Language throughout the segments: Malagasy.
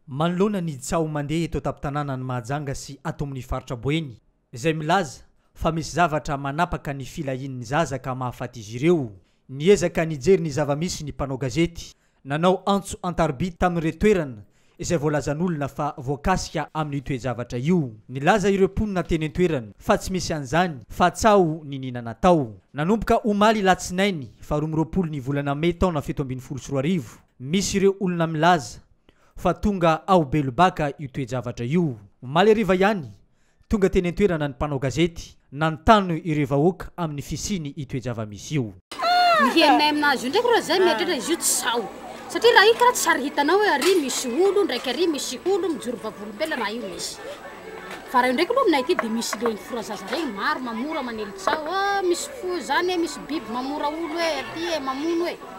Manoloana ny tsaho mandeha eto an-tampon-tanànan'i Mahajanga sy ato amin'ny faritra Boeny, izay milaza fa misy zavatra manapaka ny filahian'ny zaza ka mahafaty izy ireo, niezaka nijery ny zava-misy ny mpanao gazety, nanao antso an-tarobia tamin'ireo toerana izay voalazan'olona fa voakasika amin'io toe-javatra io. Nilaza ireo mponina teny an-toerana fa tsy misy an'izany fa tsaho niniana natao. Nanomboka omaly alatsinainy faha roa amby roapolo ny volana mey taona fito ambin'ny folo sy roa arivo, Misy ireo olona milaza fa tonga ao Belobaka io toe-javatra io. Omaly hariva ihany, tonga teny an-toerana ny mpanao gazety nanontany ireo vahoaka amin'ny fisiany io toe-java-misy io. Ny herinay aminazy io ndraiky reo zay mieritreritra izy io tsy sao satria raha io karaha tsy ary hitanao hoe ary misy olo ndraiky ary misy olo mijoro vavolombelona raha io misy fa raha io ndraiky aloha aminay aty de misy reny forazaza reny maro mamora manely tsaho ah misy fo zany e misy biby mamora olo e aty e mamono e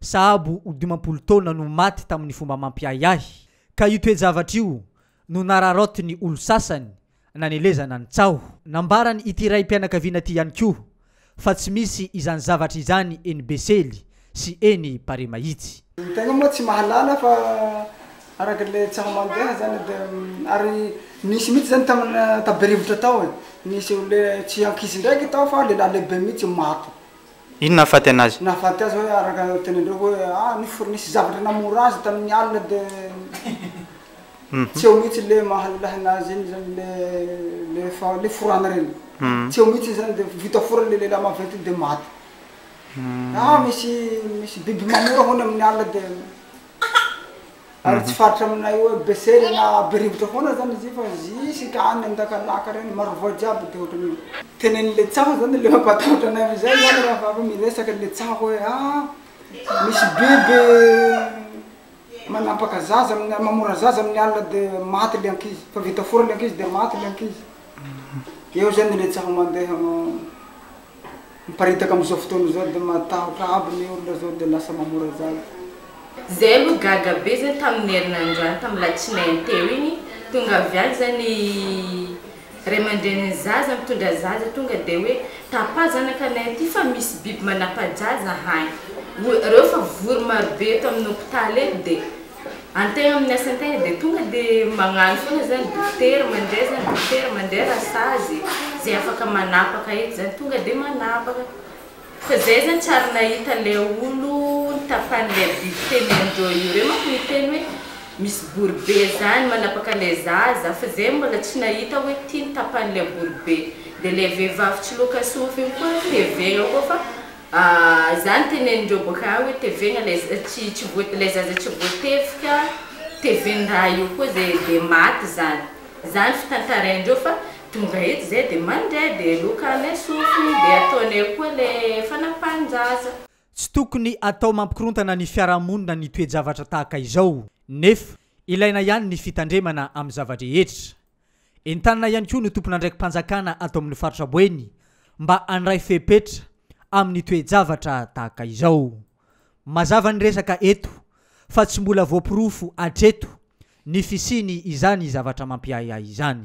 Sahabo ho dimampolo taona no maty tamin'ny fomba mampiahiahy, ka io toe-javatra io no nararaotin'ny olon-sasany nanelezana ny tsaho. Nambaran' ity raim-pianakaviana ity ihany koa fa tsy misy izany zavatra izany eny Besely sy eny Paremahitsy. Ny tegna moa tsy mahalala fa araka le tsaho mandeha zany de ary nisy mitsy zany tamina ta be rivotra tao e nisy olona tsy ankizy ndraiky tao fa lehilahy lehibe mitsy maty Ino nahafaty anazy? Nahafaty azy hoe araka ny tenendreo hoe ah ny fournice zavatra namora azy tamin'ny alina de tsy eo mihitsy le mahalilahy anazy iny zany le le fa le forana reny tsy eo mihitsy zany de vita fora le lehilahy maventy iny de maty ah misy misy biby mamora hono amin'ny alina de Ary tsy faritra aminay hoe besera na berivotra foana zany izy io fa zisika any andakalaka reny marovoay jiaby de ohatran'io. Tenen'le tsaho zany le mampatahotra anay amizay zany raha vao miresaka le tsaho hoe ah misy biby manampaka zaza amin'ny mamora zaza amin'ny alina de maty le ankizy fa vita fora le ankizy de maty le ankizy eo zany le tsaho mandeha Miparitaka amizao fotoana izao de matahotra aby ny olona zao de lasa mamora zaza. Zay aloha gaga be zay tamin'ny herinandro any tamin'ny latsinainy teo iny tonga avy any zay ny ray aman-drenin'ny zaza mitondra zaza tonga de hoe tapà zanakanay aty fa misy biby manapa-jaza any reo fa vory marobe eto amin'ny hopitaly eto de Any tegna amin'ny asa tegna de tonga de magnano foana zany dokotera mandeha zany dokotera mandeha raha sazy ze afaka manapaka eto zany tonga de manapaka fa zay zany tsy ary nahita le olo nitapan'le biby teny andreo io reo manko niteny hoe misy boribe zany manapaka le zaza fa zay mbola tsy nahita hoe ty nitapan'le boribe de le vehivavy tsy loka sofina koa hevegna koa fa Ahh izany teneninreo boka any hoe tevegna lay tsy tsy voa lay zaza tsy voatevika teven raha io koa zay de maty zany zany fitantaraindreo fa tonga eto zay de mandeha de loka any ny sofiny de ataony eo koa le fanapahan-jaza. Tsy tokony atao mampikorontana ny fiarahamonina ny toe-javatra tahaka izao. Nefa, ilaina ihany ny fitandremana amin'ny zava-drehetra. Entanina ihany koa ny tompon'andraiki-panjakana ato amin'ny faritra Boeny mba handray fepetra amin'ny toe-javatra tahaka izao. Mazava ny resaka eto fa tsy mbola voaporofo hatreto ny fisiany izany zavatra mampiahiahy izany.